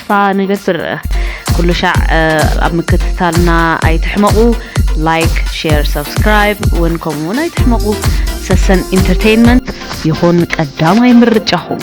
ተስፋ ንገብር ኩሉ ሻዕ ኣብ ምክትታልና ኣይትሕመቑ ላይክ ሼር ሰብስክራይብ እውን ከምኡ እውን ኣይትሕመቑ ሰሰን ኢንተርቴይንመንት ይኹን ቀዳማይ ምርጫኹም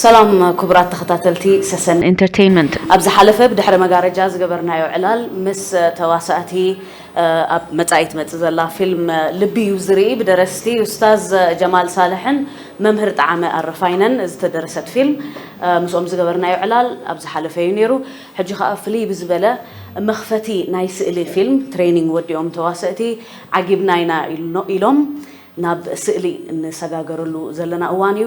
ሰላም ኩቡራት ተኸታተልቲ ሰሰን ኢንተርተይንመንት ኣብ ዝሓለፈ ብድሕሪ መጋረጃ ዝገበርናዮ ዕላል ምስ ተዋሳእቲ ኣብ መጻኢ ትመጽእ ዘላ ፊልም ልቢ እዩ ዝርኢ ብደረስቲ ኡስታዝ ጀማል ሳልሕን መምህር ጠዓመ ኣረፋይነን ዝተደረሰት ፊልም ምስኦም ዝገበርናዮ ዕላል ኣብ ዝሓለፈ እዩ ኔሩ ሕጂ ከኣ ፍልይ ብዝበለ መኽፈቲ ናይ ስእሊ ፊልም ትሬኒንግ ወዲኦም ተዋሰእቲ ዓጊብና ኢና ኢሎም ናብ ስእሊ እንሰጋገረሉ ዘለና እዋን እዩ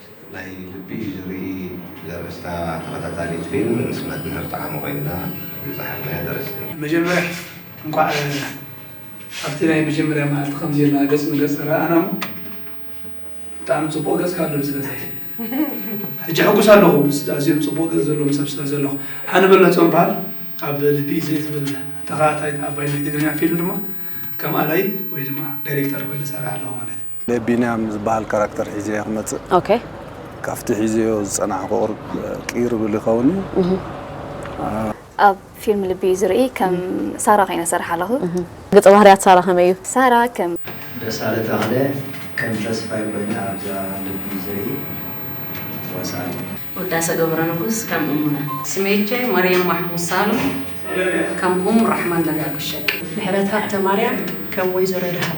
ናይ ልቢ እዩ ዝርኢ ዘርእስታ ተኸታታሊት ፊልም ምስ መምህር ጠዓመ ኮይንና ዝጸሓፍናያ ደረስቲ። መጀመርያ እንቋዕ ኣብቲ ናይ መጀመርያ መዓልቲ ከምዚ ኢልና ገጽ ንገጽ ተራኣኣና እሞ ብጣዕሚ ጽቡቕ ገጽ ካኣሎ ስለዘይ ሕጂ ሕጉስ ኣለኹ ምስ ኣዝዮም ጽቡቕ ገጽ ዘለዎም ሰብ ስለዘለኹ ሃኒ በለጾም በሃል ኣብ ልቢ እዩ ዝርኢ ትብል ተኻታታሊት ኣባይ ናይ ትግርኛ ፊልም ድማ ከም ኣላይ ወይ ድማ ዳይሬክተር ኮይነ እሰርሕ ኣለኹ ማለት እዩ። ናይ ቢንያም ዝበሃል ካራክተር ሒዘዮ ክመጽእ ኦኬ ካብቲ ሒዘዮ ዝጸናሕኩ ቅይር ይብል ይኸውን እዩ ኣብ ፊልም ልቢ እዩ ዝርኢ ከም ሳራ ኮይነ ዝሰርሕ ኣለኹ። ገጸ ባህርያት ሳራ ከመይ እዩ? ሳራ ከም። ደሳለ ተኽለ ከም ተስፋይ ኮይነ ኣብዛ ልቢ እዩ ዝርኢ ወሳኒ። ውዳሰ ገብረንጉስ ከም እሙነ። ስሜቼ መርየም ማሕሙድ ሳሉ ከም ኡም ራሕማን ደጋጎ ሸቂ። ምሕረትኣብ ተማርያም ከም ወይዘሮ ደሃብ።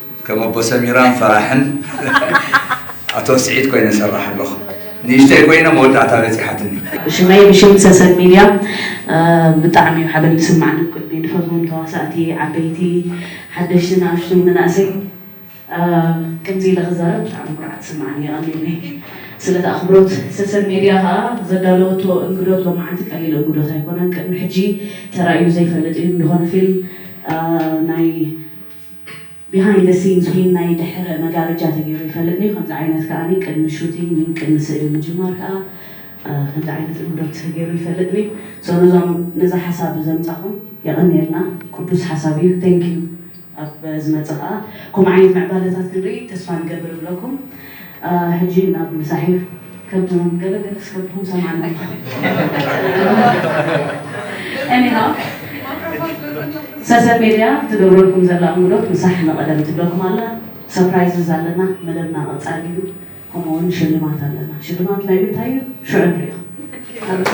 ከም ኣቦ ሰሚራን ፈራሕን ኣቶ ስዒድ ኮይነ እሰርሕ ኣለኹ። ንእሽተይ ኮይነ መወዳእታ በጺሓትኒ። ሽመይ ብሽም ሰሰን ሚድያ ብጣዕሚ ዩ ሓበን ዝስማዓኒ ብቅድሚኡ ንፈትዎም ተዋሳእቲ ዓበይቲ ሓደሽቲ ንኣሽቱን መናእሰይ ከምዚ ኢለ ክዛረብ ብጣዕሚ ኩርዓት ይስማዓኒ የቀንየለይ ስለቲ ኣኽብሮት ሰሰን ሚድያ ከኣ ዘዳለወቶ እንግዶት ሎማዓንቲ ቀሊል እንግዶት ኣይኮነን ቅድሚ ሕጂ ተራእዩ ዘይፈልጥ ዩ እንድሆነ ፊልም ናይ Behind the scenes ዊን ናይ ድሕረ መጋረጃ ተገይሩ ይፈልጥ ድዩ ከምዚ ዓይነት ከኣ ቅድሚ ሹቲንግ ዊን ቅድሚ ስእሊ ምጅማር ከኣ ከምዚ ዓይነት እንግዶት ተገይሩ ይፈልጥ ድዩ so ነዞም ነዛ ሓሳብ ዘምጻኹም የቐንየልና ቅዱስ ሓሳብ እዩ thank you ኣብ ዝመጽእ ከኣ ከምኡ ዓይነት ምዕባለታት ክንርኢ ተስፋ ንገብር እብለኩም። ሕጂ ናብ ዛሄር ከብድኩም ገለ ገለ ስከብድኩም ሰማዕና እንዲኻ Anyhow ሰሰን ሜድያ ትገብረልኩም ዘላ እንግዶት ምሳሕ ንቐደም ትብለኩም ኣላ Surprises ኣለና መደብና ቀጻሊ እዩ ከምኡ ውን ሽልማት ኣለና ሽልማት ናይ ምንታይ እዩ ሽዑ ንሪኦ ኣብዛ።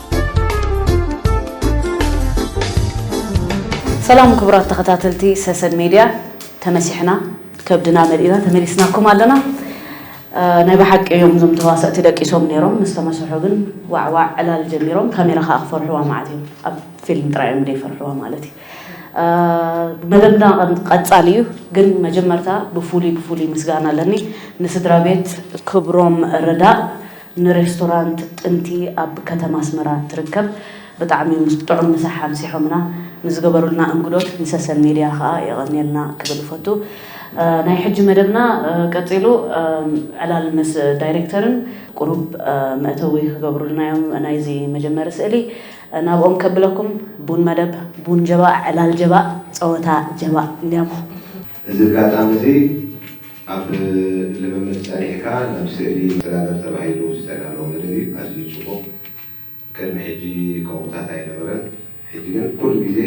ሰላም ክቡራት ተኸታተልቲ ሰሰን ሜድያ ተመሲሕና ከብድና መሊእና ተመሊስናኩም ኣለና ናይ ብሓቂ እዮም እዞም ተዋሰእቲ ደቂሶም ነይሮም ምስ ተመሰሑ ግን ዋዕዋዕ ዕላል ጀሚሮም ካሜራ ከዓ ክፈርሕዋ ማለት እዩ ኣብ ፊልም ጥራይ እዮም ዘይፈርሕዋ ማለት እዩ መደብና ቀፃሊ እዩ ግን መጀመርታ ብፍሉይ ብፍሉይ ምስጋና ኣለኒ ንስድራ ቤት ክብሮም ረዳእ ንሬስቶራንት ጥንቲ ኣብ ከተማ ኣስመራ እትርከብ ብጣዕሚ ጥዑም ምሳሕ ኣምሲሖምና፣ ንዝገበሩልና እንግዶት ንሰሰን ሜድያ ከኣ የቐንየልና ክብል እፈቱ። ናይ ሕጂ መደብና ቀጺሉ ዕላል ምስ ዳይሬክተርን ቁሩብ መእተዊ ክገብሩልና እዮም ናይዚ መጀመሪ ስእሊ ናብኦም ከብለኩም ቡን መደብ። ቡን ጀባእ ዕላል ጀባእ ጸወታ ጀባእ ኛም። እዚ ኣጋጣሚ እዚ ኣብ ልምምድ ጸኒሕካ ናብ ስእሊ ትሰጋገር ተባሂሉ ዝተዳለወ መደብ እዩ። ኣዝዩ ጽቡቕ ቅድሚ ሕጂ ከምኡታት ኣይነበረን። ሕጂ ግን ኩሉ ግዜ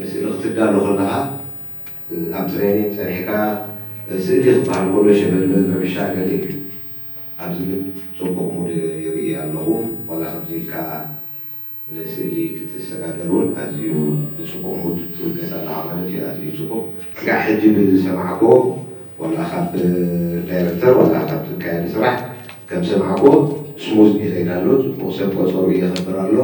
ንስእሊ ክትዳሎ ከለኻ ኣብ ትሬኒንግ ጸኒሕካ ስእሊ ክበሃል ከሎ ሸበልበል ረብሻ ገለ እዩ። ኣብዚ ግን ጽቡቕ ሙድ ይርኢ ኣለኹ ዋላ ከምዚ ኢልካ ንስእሊ ክትሰጋገር ውን ኣዝዩ ብጽቡቕ ሙድ ትውከስ ኣለኻ ማለት እዩ ኣዝዩ ጽቡቕ ክሳዕ ሕጂ ብዝሰማዕክዎ ዋላ ካብ ዳይረክተር ዋላ ካብ ዝካየድ ስራሕ ከም ዝሰማዕክዎ ስሙዝ ይኸይድ ኣሎ ጽቡቕ ሰብ ቆጸርኡ የኸብር ኣሎ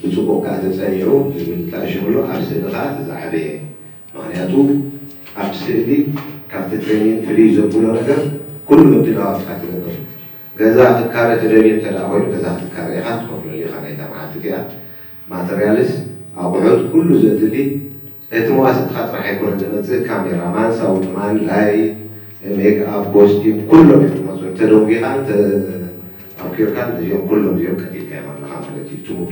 ብጽቡቕ ከኣ ተጸኒዑ ዝብል ተኣሺሙሉ ኣብ ስእሊ ከኣ እቲ ዝዓበየ ምኽንያቱ ኣብቲ ስእሊ ካብቲ ትሬኒንግ ፍልይ ዘብሎ ነገር ኩሉ ምድላዋትካ ትገብር ገዛ ክካረ ትደልዩ እንተደኣ ኮይኑ ገዛ ክትካረ ኢኻ ትኸፍለሉ ኢኻ ናይዛ መዓልቲ እቲኣ ማተርያልስ ኣቑሑት ኩሉ ዘድሊ እቲ መዋስእትኻ ጥራሕ ኣይኮነን ዝመጽእ ካሜራ ማን ሳውንድ ማን ላይት ሜክ ኣፕ ኮስቲም ኩሎም እዮም ዝመጹ እንተ ደንጒኻን እንተ ኣምኪርካን እዚኦም ኩሎም እዚኦም ቀቲልካዮም ኣለኻ ማለት እዩ እቲ ሙቪ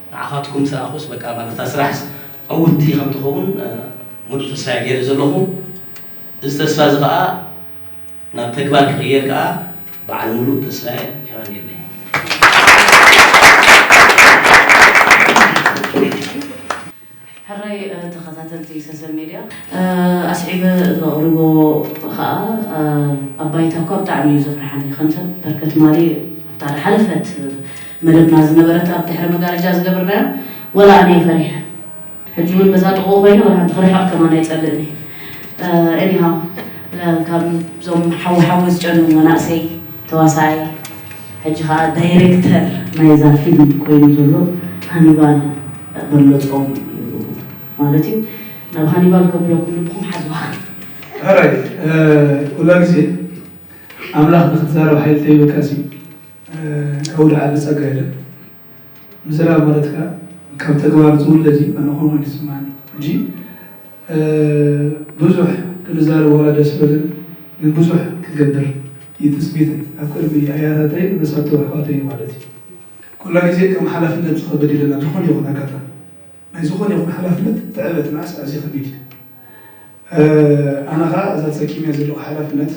ንዓኻትኩም ሰኣኹስ በቃ ማለት እታ ስራሕስ ዕውትቲ ከም ትኸውን ሙሉእ ተስፋ'የ ገይረ ዘለኹ። እዚ ተስፋ'ዚ ከኣ ናብ ተግባር ክቕየር ከኣ በዓል ሙሉእ ተስፋ'የ። ሄዋን የለይ። ሕራይ ተኸታተልቲ ሰሰን ሜድያ ኣስዒበ ዘቕርቦ ኸኣ ኣብ ባይታ እኳ ብጣዕሚ እዩ ዘፍርሓኒ ከም ሰብ በርከ ትማሊ ኣብታ ድሓለፈት መደብና ዝነበረት ኣብ ድሕሪ መጋረጃ ዝገበርናያ ወላ ኣነ ፈሪሐ ሕጂ ውን በዛ ጥቕኡ ኮይነ ወላ ሓንቲ ክርሕቕ ከማን ኣይጸልእን እየ ኤኒሃው ካብ ዞም ሓዊ ሓዊ ዝጨኑ መናእሰይ ተዋሳኣይ ሕጂ ከኣ ዳይረክተር ናይዛ ፊልም ኮይኑ ዘሎ ሃኒባል በሎጾም እዩ ማለት እዩ ናብ ሃኒባል ከብለኩም ልብኩም ሓዝዋ። ሕራይ ኩላ ግዜ ኣምላኽ ንክትዛረብ ሓይሊ ተሂብካ ሲ ካብኡ ልዓሊ ጸጋ የለን ምዝራብ ማለት ከኣ ካብ ተግባር ዝውለድ እዩ ኣነ ከምኡ እዩ ዝስማዓኒ ሕጂ ብዙሕ ክንዛረበላ ደስ በልን ግን ብዙሕ ክትገብር እዩ ትፅቢተይ ኣብ ቅድሚ ኣያታተይን መሳቱ ኣሕዋተይን ማለት እዩ ኩላ ግዜ ከም ሓላፍነት ዝኸብድ ይለና ዝኾነ ይኹን ኣጋጣሚ ናይ ዝኾነ ይኹን ሓላፍነት ትዕበት ንኣስ ኣዝዩ ከቢድ እዩ ኣነ ከዓ እዛ ፀኪምያ ዘለኹ ሓላፍነት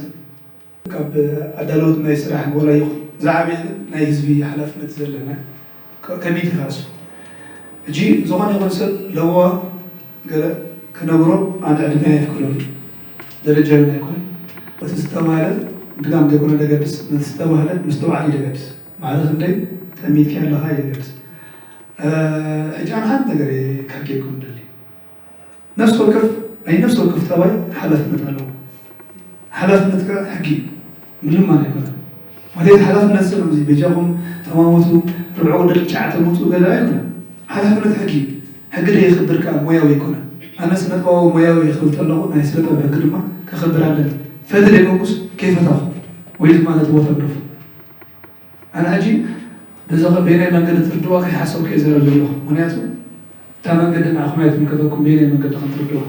ካብ ኣዳለውቲ ናይ ስራሕ ጎራ ይኹን ዝዓበየ ግን ናይ ህዝቢ ሓላፍነት ዘለና ከቢድ ኢኻ እሱ ሕጂ ዝኾነ ይኹን ሰብ ለበዋ ገለ ክነግሮ ኣነ ዕድመይ ኣየፍቅዶን እዩ ደረጃይ እውን ኣይኮነን እቲ ዝተባህለ ድጋም ዘይኮነ ደገድስ ነቲ ዝተባህለ ምስትውዓል እዩ ደገድስ ማዕረ ክንደይ ጠሚትካዮ ኣለኻ እዩ ደገድስ ሕጂ ኣነ ሓንቲ ነገር እየ ከሕግየኩም ደሊ ነፍሲ ወከፍ ናይ ነፍሲ ወከፍ ጠባይ ሓላፍነት ኣለዎ። ሓላፍነት ከኣ ሕጊ እዩ ምልማን ኣይኮነን። ማለት ሓላፍነት ሰብ እዚ በጃኹም ተማወቱ ርብዕኡ ደቂ ጨዓተ ምውጽኡ ገለ ኣይኮነን። ሓላፍነት ሕጊ እዩ። ሕጊ ደየኽብር ከኣ ሞያዊ ኣይኮነን። ኣነ ስነጥበባዊ ሞያዊ እየ ክብል ተለኹ ናይ ስነጥበብ ሕጊ ድማ ከኽብር ኣለኒ። ፈትል የመጉስ ከይፈታኹ ወይ ድማ ነቲ ቦታ ግደፉ። ኣነ ሕጂ ነዚ በየናይ መንገዲ ትርድእዎ ከይሓሰብኩ'የ ዝዛረብ ዘለኹ፣ ምኽንያቱ እታ መንገዲ ንዓኹም ኣይትምልከተኩም በየናይ መንገዲ ከም ትርድእዎ።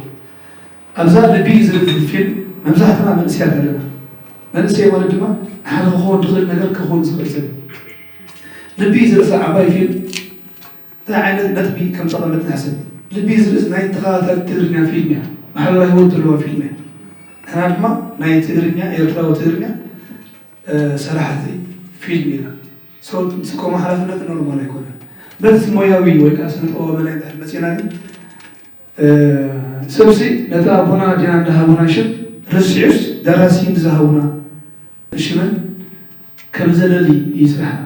ኣብዛ ልቢ ዝድብድብ ፊልም መብዛሕትና መንእሰያት ኣለና፣ መንእሰይ ማለት ድማ ንሓደ ክኸውን ድኽእል ነገር ከኹን ዝኽእል ሰብ እዩ። ልቢ ዝርእሳ ዓባይ ፊልም እንታይ ዓይነት ነጥቢ ከም ጠቐመት ንሕሰብ። ልቢ ዝርእስ ናይ ተኸታታሊት ትግርኛ ፊልም እያ፣ ማሕበራዊ ህይወት ዘለዋ ፊልም እያ። ንሕና ድማ ናይ ትግርኛ ኤርትራዊ ትግርኛ ሰራሕቲ ፊልም ኢና። So ምስ ከምኡ ሓላፍነት ኖርማል ኣይኮነን። በቲ ሞያዊ ወይ ከኣ ስነ-ጥበባዊ መዳይ እንድሕር መጺእና ግን ሰብሲ ነቲ ኣቦና ኣዴና እንዳሃቡና ሽም ረሲዑስ ደራሲ ንዝሃቡና ሽምን ከም ዘለሊ እዩ ስራሕና።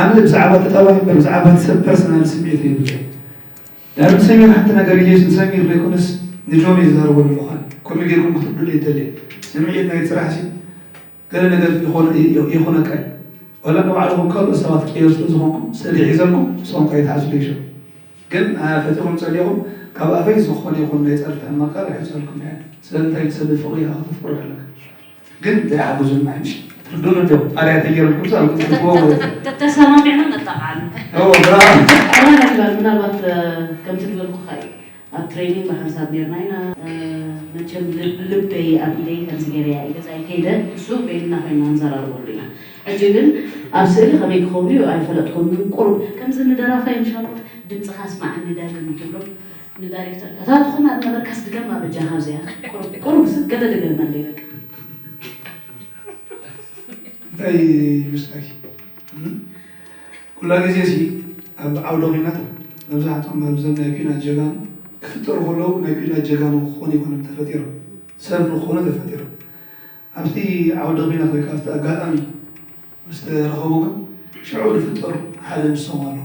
ኣነ ብዛዕባ ቁጠባ እምበር ብዛዕባ እቲ ሰብ ፐርሰናል ስምዒት የብለይን ዳሩ ንሰሚር ሓንቲ ነገር ኢለይስ ንሰሚር ዘይኮነስ ንጆን እየ ዝዛረበሉ ምዃን ከመይ ጌርኩም ክትርድኡኒ ኣይደልን ስምዒት ናይ ስራሕሲ ገለ ነገር ይኾነካ እዩ ዋላ ንባዕልኹም ካልኦት ሰባት ትቅየሩ ስለ ዝኾንኩም ስእሊ ሒዘልኩም ንስኹም ከይትሓስሉ ይሸ ግን ፈቲኹም ጸሊኹም ካብ ኣፈይ ዝኾነ ይኹን ናይ ጸርፊ ሕማቅ ቃል ኣይሕጸልኩም እየ ስለምንታይ ንሰብ ፍቕሪ ኢኻ ከተፍቅሮ ኣለካ ግን ዘይሓገዙን ኣይምሽ ትርዱን እንዶ ጣሪያ ተየሩ ኩርሳ ንቁጥጥዎ ተሰማሚዕና ነጣቃዓሉ ራላ ምናልባት ከምቲ ዝበልኩ ካዩ ኣብ ትሬኒንግ ብሓንሳብ ኔርና ኢና መቸም ልበይ ኣብ ኢደይ ከምዚ ገይረያ እዩ ገዛይ ከይደ እሱ ቤልና ኮይና ንዘራርበሉ ኢና ሕጂ ግን ኣብ ስእሊ ከመይ ክኸውን እዩ ኣይፈለጥኩም ግን ቁሩብ ከምዚ ንደራፋይ ምሻሎት ድምፅኻ ስማዓኒ ዳግም ትብሎ ንዳሪክተር እታ ትኹን ኣብ ነበርካስ ድገማ በጃኻ ኣብዚኣ ቁሩብ ቁሩብ ስቅ ገለ ድገመለይ በቃ። እንታይ ይመስለኪ ኩላ ግዜ ሲ ኣብ ዓውደ ኩናት መብዛሕትኦም ኣብዘም ናይ ኩናት ጀጋኑ ክፍጠሩ ከለዉ ናይ ኩናት ጀጋኑ ክኾኑ ኣይኮኑን ተፈጢሮም ሰብ ንክኾኑ ተፈጢሮም ኣብቲ ዓውደ ኩናት ወይ ከኣ ኣብቲ ኣጋጣሚ ምስ ተረኸቡ ግን ሽዑ ዝፍጠሩ ሓደ ንሶም ኣለዉ።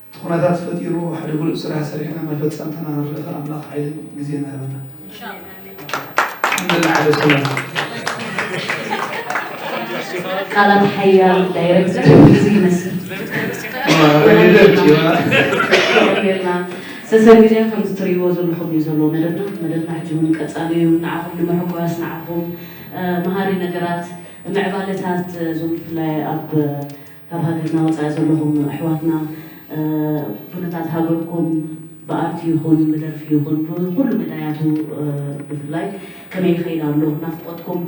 እቲ ኩነታት ፈጢሩ ሓደ ብሉጽ ስራሕ ሰሪሕና መፈጸምታና ንርኢ ከኣ ኣምላኽ ሓይልን ግዜን ይሃበና ሓምደላ ዓለ ቃላት ሓያል ዳይረክተር እዚ ይመስል ሰሰብ ሚድያ ከምዚ ትርእይዎ ዘለኹም እዩ ዘሎ መደብና መደብና ሕጂ እውን ቀፃሊ እዩ ንዓኹም ንምሕጓስ ንዓኹም መሃሪ ነገራት ምዕባለታት እዞም ብፍላይ ኣብ ካብ ሃገርና ወጻኢ ዘለኹም ኣሕዋትና ኩነታት ሃገርኩም ብኣርት ይኹን ብደርፊ ይኹን ብኹሉ መዳያቱ ብፍላይ ከመይ ይኸይድ ኣሎ ናፍቆትኩም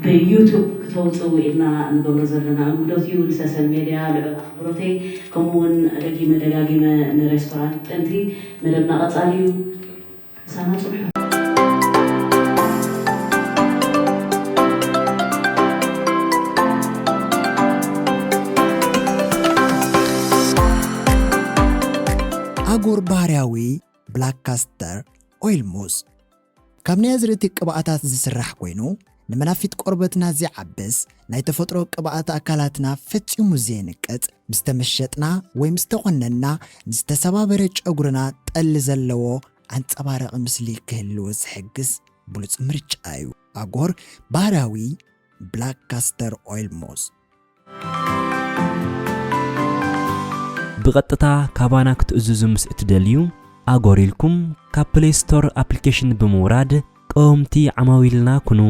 ብዩቱብ ክተውጽኡ ኢልና ንገብሮ ዘለና እንግዶት እዩ ንሰሰን ሜድያ ልዑል ኣኽብሮተይ ከምኡ ውን ደጊመ ደጋጊመ ንሬስቶራንት ጥንቲ መደብና ቀጻሊ እዩ። ምሳና ጽንሑ። ኣጎር ባህርያዊ ብላክ ካስተር ኦይል ሙስ ካብ ናይ ኣዝርእቲ ቅብኣታት ዝስራሕ ኮይኑ ንመናፊት ቆርበትና ዚዓብስ ናይ ተፈጥሮ ቅብኣት ኣካላትና ፈጺሙ ዜንቅጽ፣ ምስ ተመሸጥና ወይ ምስ ተቖነንና ንዝተሰባበረ ጨጉርና ጠሊ ዘለዎ ኣንጸባራቒ ምስሊ ኪህልዎ ዚሕግዝ ብሉጽ ምርጫ እዩ። ኣጎር ባህርያዊ ብላክ ካስተር ኦይል ሞዝ። ብቐጥታ ካባና ክትእዝዙ ምስ እትደልዩ፣ ኣጎር ኢልኩም ካብ ፕለይ ስቶር ኣፕሊኬሽን ብምውራድ ቀወምቲ ዓማዊልና ኩኑ።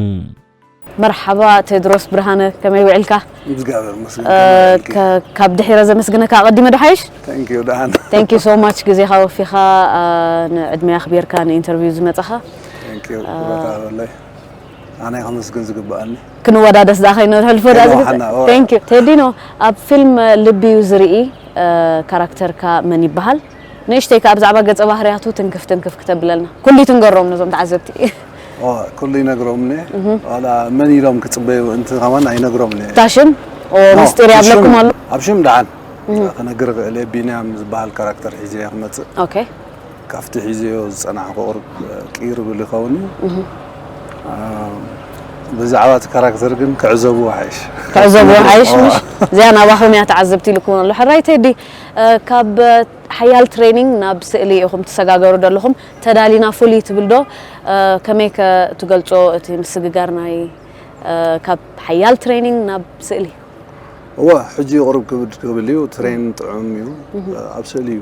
መርሓባ ቴድሮስ ብርሃነ ከመይ ውዒልካ? እግዚኣብሔር ይመስገን ከመይ ውዒልኪ? ከ- ካብ ድሒረ ዘመስግነካ ኣቐዲመ ዶ ሓይሽ? Thank you ደሓን ቴንክ ዩ ሶ ማች ግዜኻ ወፊኻ አ፣ ንዕድመይ ኣኽቢርካ ንኢንተርቪው ዝመጻኻ Thank you ክብረት ኣለለይ ኣነ ከመስግን ዝግብኣኒ ክንወዳደስ ዳኸይ ነሕልፎ ዳዚ ቴንክ ዩ ቴዲኖ ኣብ ፊልም ልቢ ዩ ዝርኢ ካራክተርካ መን ይበሃል ንእሽተይ ከኣ ብዛዕባ ገጸ ባህርያቱ ትንክፍ ትንክፍ ክተብለልና ኩሉ ትንገሮም ነዞም ተዓዘብቲ ኩሉ ይነግሮም ኔ ዋላ መን ኢሎም ክጽበዩ እንት ከማን ኣይነግሮም ኔ ታሽም ምስጢር ያብለኩም ኣሎ ኣብ ሽም ደሓን ክነግር ክእል ቢንያም ዝበሃል ካራክተር ሒዘ ክመጽእ ካብቲ ሒዘዮ ዝጸናሕኩ ቁሩብ ቅይር ይብል ይኸውን እዩ። ብዛዕባ እቲ ካራክተር ግን ክዕዘብዎ ይሓይሽ። ክዕዘብዎ ይሓይሽ ምሽ? እዚኣ ናባኹም እያ ተዓዘብቲ ኢሉኩም ኣሎ። ሕራይ ቴዲ፣ ካብ ሓያል ትሬኒንግ ናብ ስእሊ ኢኹም ትሰጋገሩ ዘለኹም። ተዳሊና ፍሉይ ትብል ዶ? ከመይ ከ ትገልጾ እቲ ምስግጋር ናይ ካብ ሓያል ትሬኒንግ ናብ ስእሊ? እወ ሕጂ ቁሩብ ክብድ ክብል እዩ። ትሬን ጥዑም እዩ። ኣብ ስእሊ እዩ።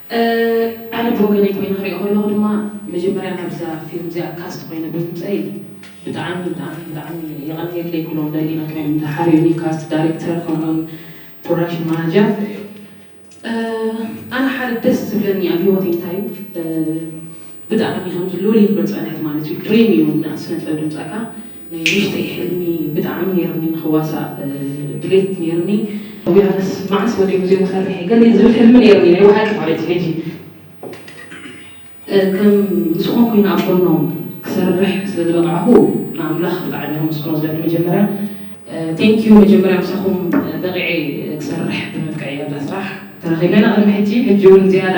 ኣነ ብወገነይ ኮይነ ክሪኦ ከለኩ ድማ መጀመርያ ናብዛ ፊልም እዚኣ ካስት ኮይነ ብምምፀእይ ብጣዕሚ ብጣዕሚ ብጣዕሚ የቀንየለይ ኩሎም ዳይሊና ክሪኦም ዝሓርዩኒ ካስት ዳሪክተር ከምኡ ውን ፕሮዳክሽን ማናጀር ኣነ ሓደ ደስ ዝብለኒ ኣብ ሂወተይ እንታይ እዩ ብጣዕሚ ከምዚ ሉል ይክሎ ጸንሐት ማለት እዩ ድሪም እዩ ን ስነጥበብ ድምጻካ ናይ ንእሽተይ ሕልሚ ብጣዕሚ ነይርኒ ንክዋሳእ ድሌት ነይርኒ ቱቢሃነስ ማዓስ ወዲኡ ዜማ ሰሪሐ ገለ ዝብል ሕልሚ ነይርኒ ናይ ባሓቂ ማለት እዩ ሕጂ ከም ምስኦም ኮይነ ኣብ ጎኖም ክሰርሕ ስለ ዝበቃዕኩ ን ኣምላክ ብጣዕሚ ከመስግኖ ዝደሊ መጀመርያ ቴንክ ዩ መጀመርያ ምሳኩም በቂዐ ክሰርሕ ብምብቅዐይ ኣብዛ ስራሕ ተረኪበ ኢና ቅድሚ ሕጂ ሕጂ ውን ዝያዳ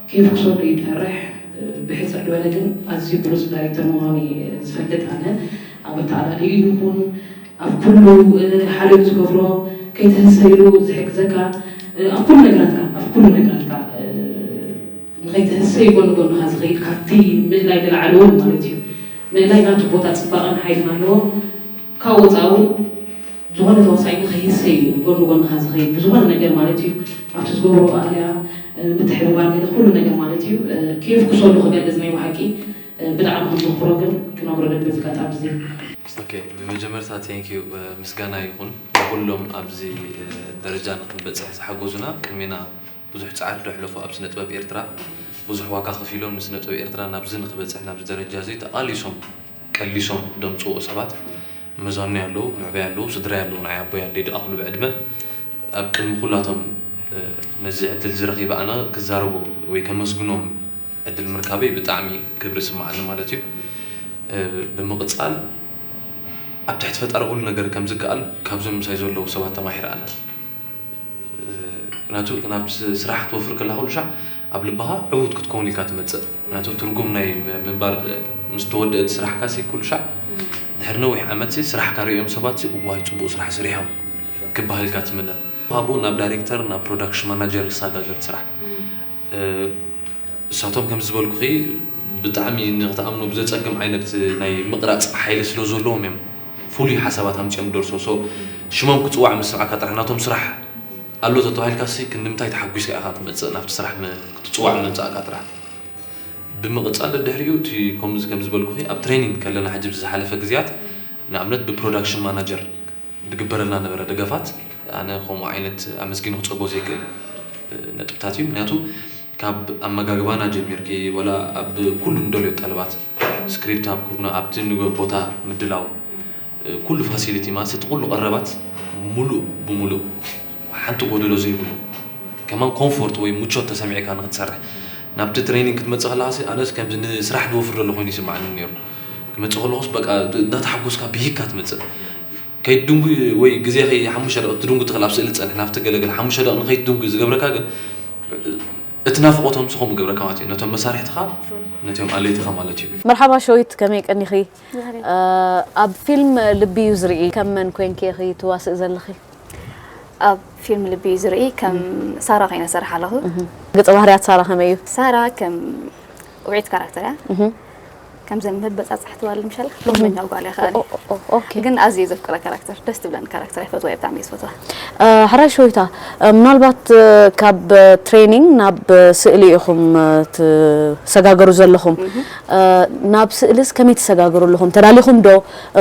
ኬፍ ክሰዱ እዩ ዝፈርሕ ብሕጽር ልበለ ግን ኣዝዩ ብሉጽ ዳሪክተር ምኳኑ ዝፈልጥ ኣነ ኣብ ኣተኣላልይኡ ይኩን ኣብ ኩሉ ሓልዮት ዝገብሮ ከይትህሰ ኢሉ ዝሕግዘካ ኣብ ኩሉ ነገራትካ ኣብ ኩሉ ነገራትካ ንከይትህሰይ ጎኒ ጎንካ ዝከይድ ካብቲ ምእላይ ንላዕሊ ውን ማለት እዩ ምእላይ ናቱ ቦታ ጽባቀን ሓይልን ኣለዎ ካብኡ ወጻኢ ውን ዝኾነ ተዋሳኢና ከይህሰ እዩ ጎኒ ጎንኻ ዝኸይድ ብዝኾነ ነገር ማለት እዩ ኣብቲ ዝገብሮ ኣልያ ምትሕብባር ገለ ኩሉ ነገር ማለት እዩ ከየፍኩሰሉ ክገልጽ ናይ ብሓቂ ብጣዕሚ ከም ዘኽብሮ ግን ክነግሮ ደሊ በዚ ኣጋጣሚ እዚ ኦኬ ብመጀመርታ ቴንክ ዩ ምስጋና ይኹን ንኹሎም ኣብዚ ደረጃ ንክንበጽሕ ዝሓገዙና ቅድሜና ብዙሕ ጻዕሪ ዶ ሕለፉ ኣብ ስነጥበብ ኤርትራ ብዙሕ ዋጋ ከፊሎም ንስነጥበብ ኤርትራ ናብዚ ንክበጽሕ ናብዚ ደረጃ እዚ ተቓሊሶም ቀሊሶም ደምጽዎ ሰባት መዛኑይ ኣለዉ ምዕበይ ኣለዉ ስድራይ ኣለዉ ንዓይ ኣቦይ ኣደይ ድኣክሉ ብዕድመ ኣብ ቅድሚ ኩላቶም ነዚ ዕድል እዚ ረኪበ ኣነ ክዛረቦ ወይ ከመስግኖም ዕድል ምርካበይ ብጣዕሚ ክብሪ ይስማዓኒ ማለት እዩ ብምቅጻል ኣብ ትሕቲ ፈጣሪ ኩሉ ነገር ከምዝከኣል ካብዞም ምሳይ ዘለዉ ሰባት ተማሂረ ኣነ። ምክንያቱ ናብ ስራሕ ክትወፍር ከለኻ ኩሉ ሻዕ ኣብ ልብኻ ዕዉት ክትከውን ኢልካ ትመጽእ። ምክንያቱ ትርጉም ናይ ምንባር ምስ ተወድእ እቲ ስራሕካሲ ኩሉ ሻዕ ድሕሪ ነዊሕ ዓመትሲ ስራሕካ ርእዮም ሰባትሲ እዋይ ጽቡቕ ስራሕ ስሪሖም ክበሃል ኢልካ ትምነ። ካብኡ ናብ ዳይሬክተር ናብ ፕሮዳክሽን ማናጀር ይሰጋገር እቲ ስራሕ። እሳቶም ከምዝበልኩኺ ብጣዕሚ ንኽትኣምኖ ብዘፀግም ዓይነት ናይ ምቕራፅ ሓይሊ ስለዘለዎም እዮም ፍሉይ ሓሳባት ኣምፂኦም ዝደርሶ so ሽሞም ክፅዋዕ ምስ ሰማዕካ ጥራሕ ናቶም ስራሕ ኣሎ ተተባሂልካሲ ክንድምንታይ ተሓጒስካ ኢኻ ትመፅእ ናብቲ ስራሕ ክትፅዋዕ ምምፃእካ ጥራሕ ብምቕፃል ደድሕሪኡ እቲ ከምዚ ከምዝበልኩኺ ኣብ ትሬኒንግ ከለና ሕጂ ብዝሓለፈ ግዝያት ንኣብነት ብፕሮዳክሽን ማናጀር ድግበረልና ነበረ ደገፋት ኣነ ከምኡ ዓይነት ኣመስጊኑ ክጸግቦ ዘይክእል ነጥብታት እዩ ምክንያቱ ካብ ኣመጋግባና ጀሚርኪ ወላ ኣብ ኩሉ ንደልዮ ጠለባት ስክሪፕት ኣብ ኩርና ኣብቲ ንገ ቦታ ምድላው ኩሉ ፋሲሊቲ ማለት እቲ ኩሉ ቀረባት ሙሉእ ብሙሉእ ሓንቲ ጎደሎ ዘይብሉ ከማን ኮንፎርት ወይ ሙቾት ተሰሚዕካ ንክትሰርሕ ናብቲ ትሬኒንግ ክትመጽእ ከለካሲ ኣነስ ከምዚ ንስራሕ ድወፍር ደሎ ኮይኑ ይስማዓኒ ነይሩ ክመጽእ ከለኩስ በቃ እንዳተሓጎስካ ብሂግካ ትመጽእ ከይትድንጉ ወይ ግዜ ከይ ሓሙሽተ ደቂቅ ክትድንጉ ትክእል ኣብ ስእሊ ትጸንሕ ናብቲ ገለ ገለ ሓሙሽተ ደቂቅ ንከይትድንጉ ዝገብረካ ግን እቲ ናፍቆቶም ንሱ ከምኡ ይገብረካ ማለት እዩ ነቶም መሳርሕትካ ነቶም ኣለይትካ ማለት እዩ። መርሓባ ሸዊት ከመይ ቀኒኺ ኣብ ፊልም ልቢ እዩ ዝርኢ ከም መን ኮንኪ ኢኺ ትዋስኢ ዘለኺ? ኣብ ፊልም ልቢ እዩ ዝርኢ ከም ሳራ ኮይነ ሰርሓ ኣለኹ። ገጸ ባህርያት ሳራ ከመይ እዩ? ሳራ ከም ውዕኢት ካራክተር እያ ከምዚ መበጻጻሕ ትባል ምሻል ሎመኛ ጓል እያ ከኣ ግን ኣዝየ ዘፍቅራ ካራክተር ደስ ትብለኒ ካራክተር ይፈትዋ እየ ብጣዕሚ ዝፈትዋ ሕራይ ሾይታ ምናልባት ካብ ትሬኒንግ ናብ ስእሊ ኢኹም ትሰጋገሩ ዘለኹም ናብ ስእልስ ከመይ ትሰጋገሩ ኣለኹም ተዳሊኹም ዶ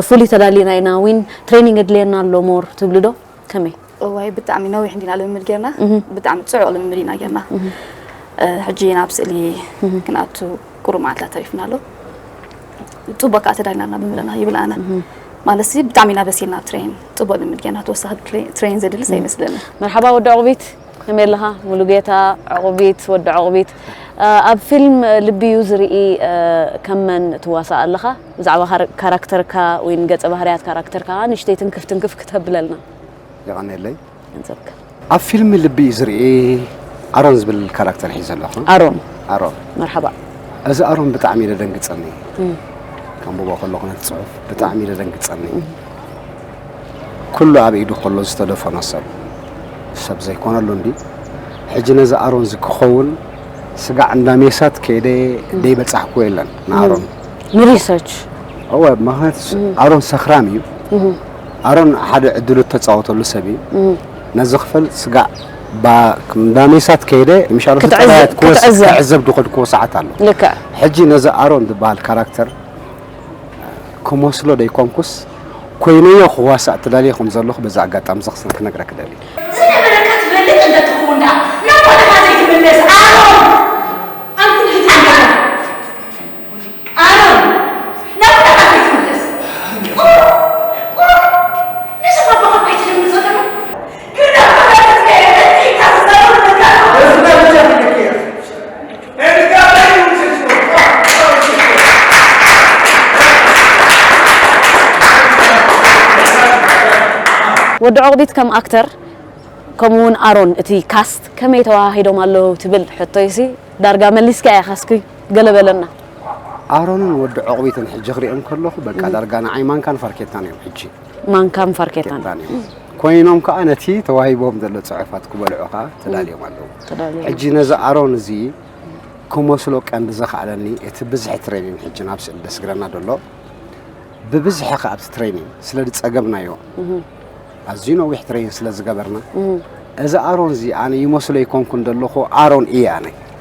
ፍሉይ ተዳሊና ኢና ዊን ትሬኒንግ የድልየና ኣሎ ሞር ትብሉ ዶ ከመይ እዋይ ብጣዕሚ ነዊሕ እንዲና ልምምድ ጌርና ብጣዕሚ ጽዑቕ ልምምድ ኢና ጌርና ሕጂ ናብ ስእሊ ክንኣቱ ቁሩብ መዓልትታት ተሪፍና ኣሎ ጽቡቅ ከዓ ተዳሊና ኣለና ብምለና ይብል ኣነ ማለት ሲ ብጣዕሚ ኢና በሲልና ኣብ ትሬን ጽቡቅ ልምድ ጌርና ተወሳኺ ትሬን ዘድልስ ኣይመስለኒ መርሓባ ወዲ ዕቑቢት ከመይ ኣለኻ ሙሉጌታ ዕቑቢት ወዲ ዕቑቢት ኣብ ፊልም ልቢ እዩ ዝርኢ ከም መን ትዋሳእ ኣለኻ ብዛዕባ ካራክተርካ ወይ ገጸ ባህርያት ካራክተርካ ንእሽተይ ትንክፍ ትንክፍ ክተብለልና የቀኔለይ ንዘካ ኣብ ፊልም ልቢ እዩ ዝርኢ ኣሮን ዝብል ካራክተር ሒዘ ኣለኹ ኣሮን ኣሮን መርሓባ እዚ ኣሮን ብጣዕሚ እዩ ደደንግጸኒ ከንብቦ ከለኹ ነቲ ጽሑፍ ብጣዕሚ እዩ ደደንግጸኒ ኩሉ ኣብ ኢዱ ከሎ ዝተደፈኖ ሰብ ሰብ ዘይኮነሉ እንዲ ሕጂ ነዚ ኣሮን እዚ ክኸውን ስጋዕ እንዳ ሜሳት ከይደ ደይበጻሕኩ የለን ንኣሮን ንሪሰርች እወ ምክንያቱ ኣሮን ሰኽራም እዩ ኣሮን ሓደ ዕድሉ እተጻወተሉ ሰብ እዩ ነዚ ክፈል ስጋዕ እንዳ ሜሳት ከይደ ምሻሉ ህፃናት ክዕዘብ ዝኸድክዎ ሰዓት ኣሎ ሕጂ ነዚ ኣሮን ዝበሃል ካራክተር ክመስሎ ደይኮንኩስ ኮይነዮ ክዋሳእ ትደልየ ከም ዘለኹ በዚ ኣጋጣሚ እዚ ክስል ክነግረክ ደሊ ዝነበረካ ትፈልጥ እንተትኸውን ደኣ ናብ ቦታኻ ዘይትምለስ ኣሮን ኣንኩን ህፃን ጋና ወዲ ዑቕቢት ከም ኣክተር ከምኡ ውን ኣሮን እቲ ካስት ከመይ ተወሃሂዶም ኣለዉ ትብል ሕቶይሲ ዳርጋ መሊስካያ ካስኪ። ገለ በለና። ኣሮንን ወዲ ዑቕቢትን ሕጂ ክሪኦም ከለኹ በቃ ዳርጋ ንዓይ ማንካን ፋርኬታን እዮም ሕጂ። ማንካን ፋርኬታን ኬታን እዮም ኮይኖም ከዓ ነቲ ተዋሂቦም ዘሎ ፅሑፋት ክበልዑ ከዓ ተዳልዮም ኣለዉ ተዳልዮም። ሕጂ ነዚ ኣሮን እዚ ክመስሎ ቀንዲ ዘኽኣለኒ እቲ ብዝሒ ትሬኒን ሕጂ ናብ ስእሊ ደስግረና ደሎ ብብዝሒ ከዓ ኣብቲ ትሬኒን ስለ ዝፀገብናዮ ኣዝዩ ነዊሕ ትሬኒን ስለ ዝገበርና እዚ ኣሮን እዚ ኣነ ይመስሎ ኣይኮንኩን ደለኹ ኣሮን እየ ኣነ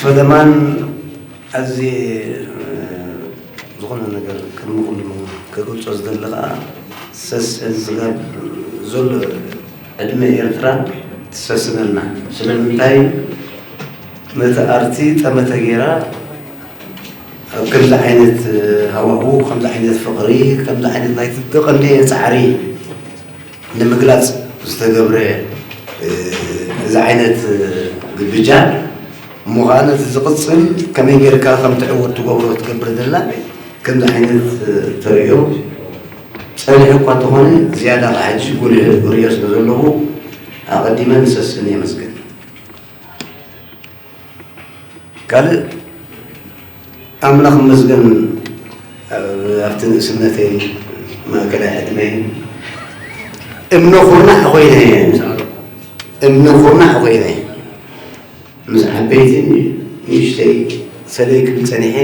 ፈለማን ኣዝየ ዝኾነ ነገር ቅድሚ ኩሉ ከገልጾ ዝደሊ ከኣ ሰስዐ ዝጋብ ዘሎ ዕድመ ኤርትራ ትሰስነልና ስለምንታይ ነቲ ኣርቲ ጠመተ ጌራ ኣብ ከምዚ ዓይነት ሃዋሁ ከምዚ ዓይነት ፍቕሪ ከምዚ ዓይነት ናይቲ ተቐንየ ጻዕሪ ንምግላፅ ዝተገብረ እዚ ዓይነት ግብጃን እሞ ከዓ ነቲ ዝቕፅል ከመይ ጌርካ ከም ትዕወት ትገብሮ ትገብር ዘላ ከምዚ ዓይነት ተርእዮ ፀኒሑ እኳ እንተኾነ ዝያዳ ከዓ ሕጂ ጉልህ ርእዮ ስለ ዘለዎ ኣቐዲመ ንሰስን የመስግን። ካልእ ኣምላኽ ይመስገን ኣብቲ ንእስነተይ ማእከላይ ዕድመይ እምነ ኩርናዕ ኮይነ እየ እምነ ኩርናዕ ኮይነ ምስ ዓበይቲ ንእሽተይ ሰለይ ክብል ጸኒሐ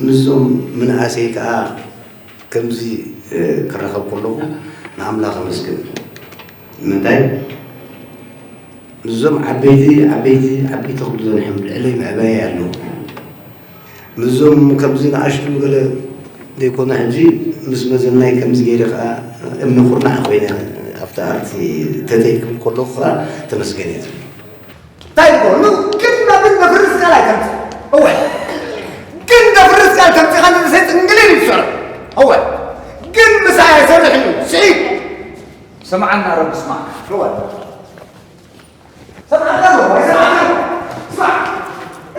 ምስዞም ምንእሰይ ከዓ ከምዚ ክረኸብ ከለኹ ንኣምላኽ ኣመስግን ንምንታይ ምስዞም ዓበይቲ ዓበይቲ ዓበይቲ ክብሉ ዘንሕም ልዕለይ ምዕባየይ ኣለዉ ምስዞም ከምዚ ንኣሽቱ ገለ ዘይኮነ ሕጂ ምስ መዘናይ ከምዚ ገይረ ከዓ እምኒ ኩርናዕ ኮይነ ኣብቲ ኣርቲ ተተይ ክብል ከለኹ ከዓ ተመስገን እየ ዝብል እንታይ ይኮኑ ግን ናብን ደፍርስ ቃል ኣይተምፅ እወ ግን ደፍርስ ቃል ተምፅኻ ንእሰይ ጥንግሊል ይሰሩ እወ ግን ምሳይ ኣይሰርሕን እዩ ስዒድ ሰምዓና ረቢ ስማዕካ ርዋድ ሰምዓካ ርዋድ ኣይሰምዓካ ርዋድ ስማዕ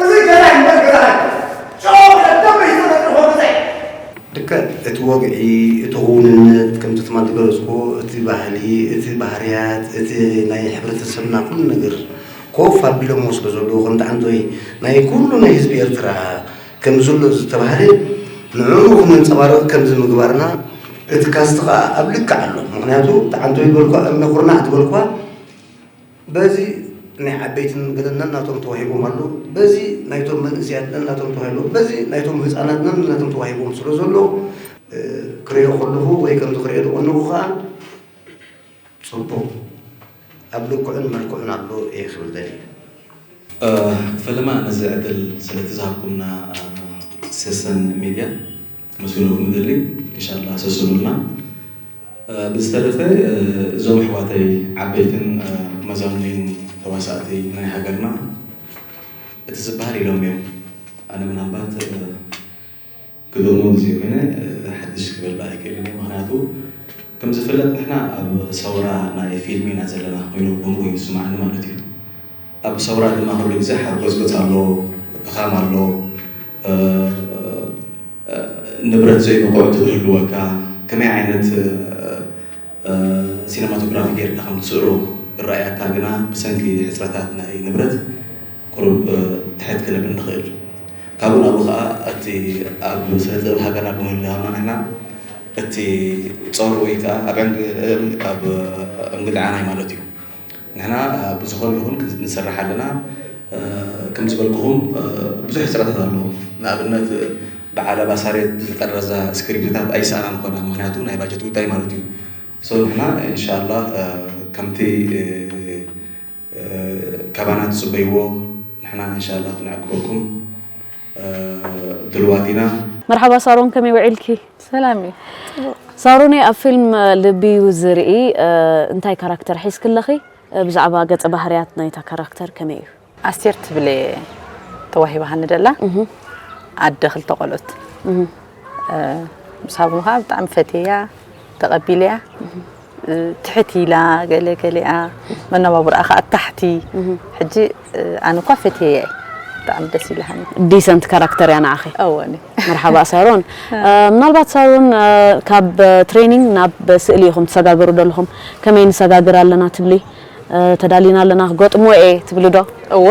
እዚ ገላይ እምበር ገዛ ኣይኮነን ጨው ብለ ደምበይ ዝተፈጥርዎ ገዛይ ልክዕ እቲ ወግዒ እቲ ክውንነት ከምቲ ትማል ዝገለፅኩ እቲ ባህሊ እቲ ባህርያት እቲ ናይ ሕብረተሰብና ኩሉ ነገር ኮፍ ኣቢሎሞ ስለ ዘለዉ ከምቲ ዓንተወይ ናይ ኩሉ ናይ ህዝቢ ኤርትራ ከም ዘሎ ዝተባህለ ንዕኡ ክነንጸባርቕ ከምዚ ምግባርና እቲ ካስት ከኣ ኣብ ልክዕ ኣሎ ምኽንያቱ ተዓንቶ ይበልኳ እምነ ኩርናዕ ትበልኳ በዚ ናይ ዓበይትን ገለ ነናቶም ተዋሂቦም ኣሎ በዚ ናይቶም መንእስያት ነናቶም ተዋሂቦ በዚ ናይቶም ህፃናት ነናቶም ተዋሂቦም ስለ ዘሎ ክሪኦ ከለኹ ወይ ከምዚ ክሪኦ ዝቐነኹ ከዓ ጽቡቕ ኣብ ልክዑን መልክዑን ኣሎ እየ ክብል ደልየ። ፈለማ ነዚ ዕድል ስለቲ ዝሃብኩምና ሰሰን ሜድያ ከመስግነኩም እደሊ እንሻላ ሰስኑልና ብዝተረፈ እዞም ኣሕዋተይ ዓበይትን መዛኑይን ተዋሳእቲ ናይ ሃገርና እቲ ዝበሃል ኢሎም እዮም ኣነ ምናልባት ክደሙሉ ዘይኮነ ሓድሽ ክበልዕ ኣይክእልን እየ ምክንያቱ ከምዝፍለጥ ንሕና ኣብ ሰውራ ናይ ፊልም ኢና ዘለና ኮይኑ ከምኡ ኮይኑ ዝስምዓኒ ማለት እዩ ኣብ ሰውራ ድማ ኩሉ ግዜ ሓርጎጽጎጽ ኣሎ ድኻም ኣሎ ንብረት ዘይንቑዕ ትህልወካ ከመይ ዓይነት ሲነማቶግራፊ ጌርካ ከም ትስእሎ እረኣያካ ግና ብሰንኪ ሕጽረታት ናይ ንብረት ቁሩብ ትሕት ክንብል ንኽእል። ካብኡ ናብኡ ከኣ እቲ ኣብ ስነ-ጥበብ ሃገርና ብምህላውና ንሕና እቲ ጾር ወይ ከኣ ኣብ ዕንግ ኣብ እንግድዓናይ ማለት እዩ። ንሕና ብዝኾነ ይኹን ንሰርሕ ኣለና ከምዝበልኩኹም ብዙሕ ሕፅረታት ኣለዎ ንኣብነት በዓል ኣባ ሳሬት ዝጠረዛ ስክሪፕትታት ኣይሰኣናን ኮና ምክንያቱ ናይ ባጀት ጉዳይ ማለት እዩ ሰው ንሕና ኢንሻላ ከምቲ ካባና ትፅበይዎ ንሕና ኢንሻላ ክንዕግበኩም ድልዋት ኢና። መርሓባ ሳሮን ከመይ ውዒልኪ። ሰላም እየ ጽቡቅ። ሳሮነይ ኣብ ፊልም ልቢዩ ዝርኢ እንታይ ካራክተር ሒዝኪ ኣለኺ ብዛዕባ ገጸ ባህርያት ናይታ ካራክተር ከመይ እዩ? ኣስቴር ትብል እየ ተዋሂባሃኒ ደላ ኣደ ክልተ ቆልዑት ምስ ሃብሙካ ብጣዕሚ ፈትየያ ተቀቢለያ ትሕት ኢላ ገለ ገሊኣ መነባብሮኣ ከኣ ኣብ ታሕቲ ሕጂ ኣነ እኳ ፈትየያ እየ ብጣዕሚ ደስ ኢላሃኒ ዲሰንት ካራክተር እያ ንዓኺ እወኒ መርሓባ ሳሮን ምናልባት ሳሮን ካብ ትሬኒንግ ናብ ስእሊ ኢኹም ትሰጋግሩ ዘለኹም ከመይ ንሰጋግር ኣለና ትብሊ ተዳሊና ኣለና ክገጥሞ እየ ትብሊ ዶ እወ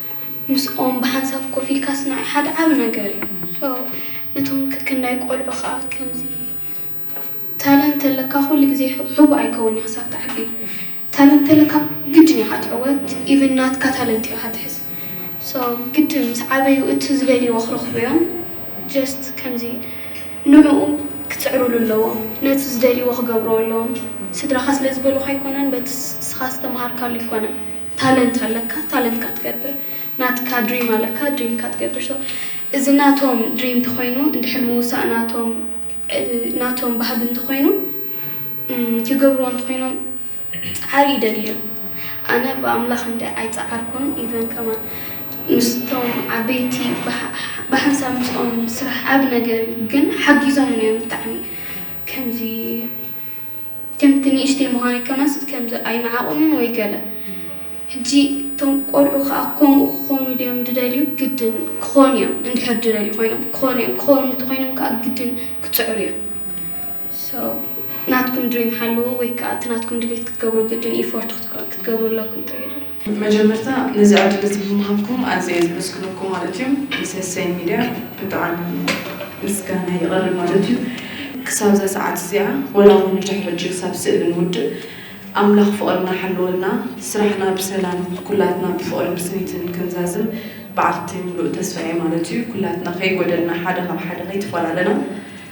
ምስኦም ብሓንሳብ ኮፍ ኢልካ ስናይ ሓደ ዓቢ ነገር እዩ። So ነቶም ክክንዳይ ቆልዑ ከኣ ከምዚ ታለንት ተለካ ኩሉ ግዜ ሕቡእ ኣይከውን እዩ ክሳብ ትዓቢ ታለንት ተለካ ግድን ኢኻ ትዕወት ኢቭን ናትካ ታለንት ኢኻ ትሕዝ So ግድን ምስ ዓበዩ እቲ ዝደልይዎ ክረኽቡ እዮም just ከምዚ ንዕኡ ክጽዕሩሉ ኣለዎም ነቲ ዝደልይዎ ክገብርዎ ኣለዎም ስድራኻ ስለ ዝበሉኻ ኣይኮነን በቲ ንስኻ ዝተመሃርካሉ ኣይኮነን ታለንት ኣለካ ታለንትካ ትገብር ናትካ ድሪም ኣለካ ድሪምካ ትገብር so እዚ ናቶም ድሪም እንተኾይኑ እንድሕር ምውሳእ ናቶም ናቶም ባህጊ እንተኾይኑ ክገብርዎ እንተኾይኖም ጻዓሪ ይደልዩ ኣነ ብኣምላኽ እንዳ ኣይጻዓርኩን ኢቨን ከማን ምስቶም ዓበይቲ ብሓንሳብ ምስኦም ስራሕ ዓቢ ነገር እዩ ግን ሓጊዞምኒ እዮም ብጣዕሚ ከምዚ ከምቲ ንእሽተይ ምዃነይ ከማስ ከምዚ ኣይነዓቑንን ወይ ገለ ሕጂ እቶም ቆልዑ ከኣ ከምኡ ክኾኑ ድዮም ድደልዩ ግድን ክኾኑ እዮም እንድሕር ድደልዩ ኮይኖም ክኾኑ እዮም ክኾኑ እንተኾይኖም ከኣ ግድን ክጽዕሩ እዮም so ናትኩም ድሪም ሓልዉ ወይ ከኣ እቲ ናትኩም ድሌት ክትገብሩ ግድን ኢፎርት ክትገብሩ ኣለኩም ጥራይ እዩ ድብል። መጀመርታ ነዚ ዕድል እዚ ብምሃብኩም ኣዝየ ዘመስግነኩም ማለት እዩ ምስ እሰይ ሚድያ ብጣዕሚ ምስጋናይ ይቐርብ ማለት እዩ ክሳብዛ ሰዓት እዚኣ ወላ ውን ብድሕሪ ሕጂ ክሳብ ስእሊ ንውድእ ኣምላኽ ፍቕርና ሓልወልና ስራሕና ብሰላም ኩላትና ብፍቕርን ብስኒትን ክንዛዝም በዓልቲ ሙሉእ ተስፋ እየ ማለት እዩ ኩላትና ከይጎደልና ሓደ ካብ ሓደ ከይተፈላለና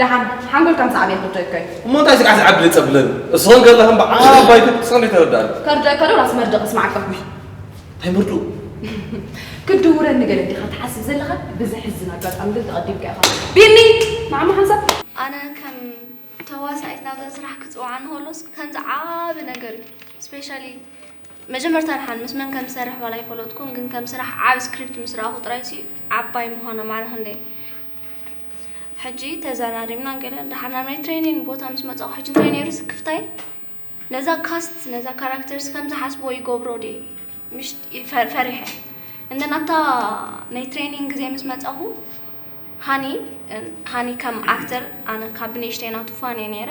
ደሓን ሓንጎልካ ምስ ዓብየ ክርደእከ እዩ። እሞ እንታይ ስጋዕ ስጋዕ ድልጸ ብለኒ እስኸ ገለ ከም በዓል ባይቶ ክትስቀ እንዴት ተረዳእኒ። ከርደእከ ዶ ራስ መርድእ ክስማዕ ኣለኹ። እንታይ መርድኡ። ክትድውረኒ ገለ ዲኻ ትሓስብ ዘለኻ ብዘሕዝን ኣጋጣሚ ግን ተቐዲምካ ኢኻ ቢኒ ንዓማ ሓንሳብ። ኣነ ከም ተዋሳኢት ናብዛ ስራሕ ክጽውዓኒ ከሎስ ከምዚ ዓቢ ነገር እዩ ስፔሻሊ መጀመርታ ደሓን ምስ መን ከም ዝሰርሕ ዋላ ኣይፈለጥኩን ግን ከም ስራሕ ዓቢ ስክሪፕት ምስ ረኣኹ ጥራይሲ ዓባይ ምዃና ማዕረ ክንደይ ሕጂ ተዘራሪብና ገለ ደሓር ናብ ናይ ትሬኒን ቦታ ምስ መጻኹ ሕጂ እንታይ ነይሩ ስክፍታይ ነዛ ካስት ነዛ ካራክተርስ ከም ዝሓስብዎ ይገብሮ ድየ ምሽ ፈሪሐ እንደ ናብታ ናይ ትሬኒን ግዜ ምስ መጻኹ ሃኒ ሃኒ ከም ኣክተር ኣነ ካብ ንእሽተይ ናቱ ፋን እየ ነይረ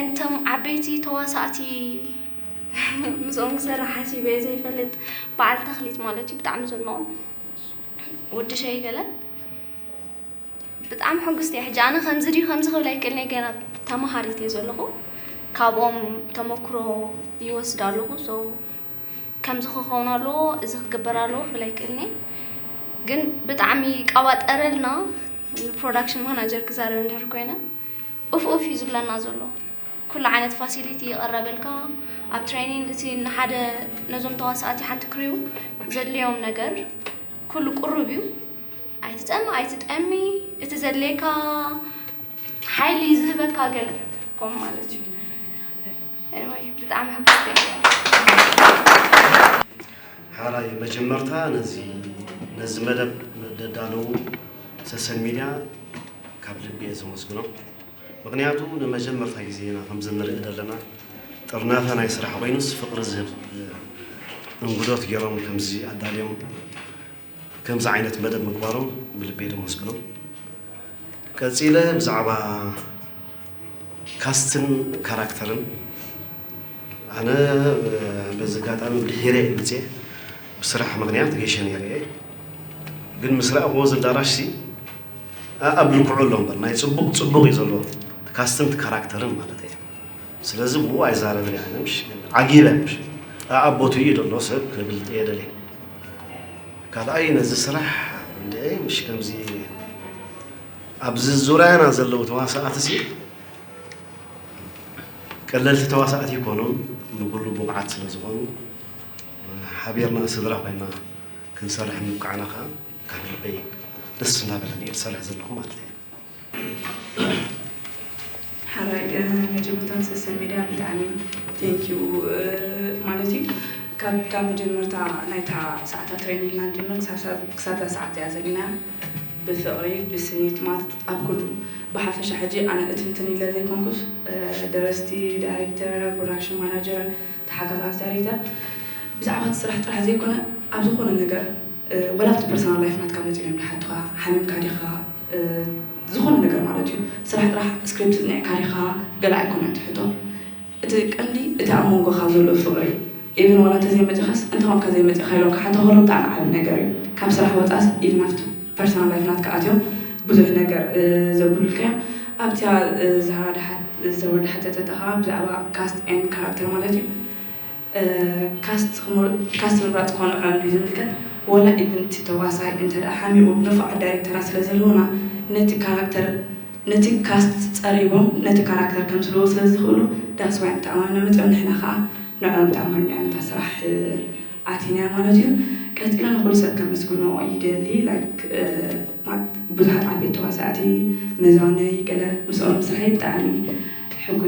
እንቶም ዓበይቲ ተዋሳእቲ ምስኦም ክሰርሕ ሓሲበ ዘይፈልጥ በዓል ተኽሊት ማለት እዩ ብጣዕሚ ዘድንቖም ወዲ ሸይ ገለ ብጣዕሚ ሕጉስቲ እየ ሕጂ ኣነ ከምዚ ድዩ ከምዚ ክብል ኣይክእልንየ ገና ተምሃሪት እየ ዘለኹ ካብኦም ተመክሮ ይወስድ ኣለኹ ሶ ከምዚ ክኸውን ኣለዎ እዚ ክግበር ኣለዎ ክብል ኣይክእልንየ ግን ብጣዕሚ ቀባጠረልና ንፕሮዳክሽን ማናጀር ክዛረብ እንድሕር ኮይነ ኡፍ ኡፍ እዩ ዝብለና ዘሎ ኩሉ ዓይነት ፋሲሊቲ ይቅረበልካ ኣብ ትሬኒን እቲ ንሓደ ነዞም ተዋሳእቲ ሓንቲ ክሪው ዘድልዮም ነገር ኩሉ ቁሩብ እዩ ኣይትፀም ኣይትጠሚ እቲ ዘድልየካ ሓይሊ ዝህበካ ገለ ኮም ማለት እዩ ብጣዕሚ ሕጉስ ሐራይ መጀመርታ ነዚ ነዚ መደብ ደዳለዉ ሰሰን ሚድያ ካብ ልቢ እየ ዘመስግኖም ምክንያቱ ንመጀመርታ ግዜ ኢና ከምዚ ንርኢ ዘለና ጥርናፈ ናይ ስራሕ ኮይኑስ ፍቅሪ ዝህብ እንግዶት ጌሮም ከምዚ ኣዳልዮም ከምዚ ዓይነት መደብ ምግባሮም ብልቤ ደመስግኖም። ቀጺለ ብዛዕባ ካስትን ካራክተርን ኣነ በዚ ኣጋጣሚ ብድሒረ እየ መጽየ ብስራሕ ምክንያት ገሸ ነይረ እየ ግን ምስ ረኣኹዎ እዚ ኣዳራሽ ሲ ኣብ ልክዑ ኣሎ እምበር ናይ ጽቡቕ ጽቡቕ እዩ ዘሎ ካስትን ካራክተርን ማለት እየ ስለዚ ብኡ ኣይዛረብን እየ ኣነ ምሽ ዓጊበ ምሽ ኣኣቦቱ እዩ ዘሎ ሰብ ክብል እየ ደልየ ካልኣይ ነዚ ስራሕ እንድዒ ምሽ ከምዚ ኣብዚ ዙርያና ዘለዉ ተዋሳእቲ ሲ ቀለልቲ ተዋሳእቲ ይኮኑን ንኩሉ ብቑዓት ስለ ዝኾኑ ሓቢርና ስድራ ኮይና ክንሰርሕ ምብቃዕና ከዓ ካብ ልበይ ደስ እናበለኒ እየ ዝሰርሕ ዘለኹ ማለት እየ። ሓራይ መጀመርታ ንሰሰን ሜድያ ብጣዕሚ ቴንክ ዩ ማለት እዩ ካብታ መጀመርታ ናይታ ሰዓታ ትሬን ኢልና ንጀምር ክሳብ እዛ ሰዓት እያ ዘለና ብፍቕሪ ብስኒት ማለት ኣብ ኩሉ ብሓፈሻ ሕጂ ኣነ እትንትን ኢለ ዘይኮንኩስ ደረስቲ ዳይሬክተር ፕሮዳክሽን ማናጀር ተሓጋጋዝ ዳይሬክተር ብዛዕባ እቲ ስራሕ ጥራሕ ዘይኮነ ኣብ ዝኾነ ነገር ወላ ኣብቲ ፐርሰናል ላይፍ ናትካ መፂኦም ይሓቱኻ ሓሚምካ ዲኻ ዝኾነ ነገር ማለት እዩ ስራሕ ጥራሕ ስክሪፕት ጽኒዕካ ዲኻ ገለ ኣይኮነን እቲ ሕቶ እቲ ቀንዲ እቲ ኣብ መንጎኻ ዘሎ ፍቕሪ ኢቭን ዋላ ተዘይመጺኻስ እንተኾንካ ዘይመጺኻ ኢሎም ክሓቶ ከሎ ብጣዕሚ ዓቢ ነገር እዩ ካብ ስራሕ ወጻእስ ኢቭን ኣብቲ ፐርሰናል ላይፍ ናትካ ኣትዮም ብዙሕ ነገር ዘብሉልካ እዮም ኣብታ ዛህራ ዝሓተተታ ከኣ ብዛዕባ ካስት ኤንድ ካራክተር ማለት እዩ ካስት ምምራጽ ኮነ ዕማም ብዘይምልከት ዋላ ኢቭን እቲ ተዋሳይ እንተድኣ ሓሚቑ ንፉዓት ዳይሬክተራት ስለዘለዉና ነቲ ካራክተር ነቲ ካስት ጸሪቦም ነቲ ካራክተር ከምስልዎ ስለዝኽእሉ ዳትስ ዋይ ንተኣማምኖም ነጺኦም ንሕና ከኣ ንዕኦም ተኣማሚና ኢና ነታ ስራሕ ኣቲናያ ማለት እዩ። ቀጺለ ንኹሉ ሰብ ከመስግኖ ይደሊ ላይክ ማት ብዙሓት ዓበይቲ ተዋሳእቲ መዛኖይ ገለ ምስኦም ምስርሐይ ብጣዕሚ ሕጉስ እየ።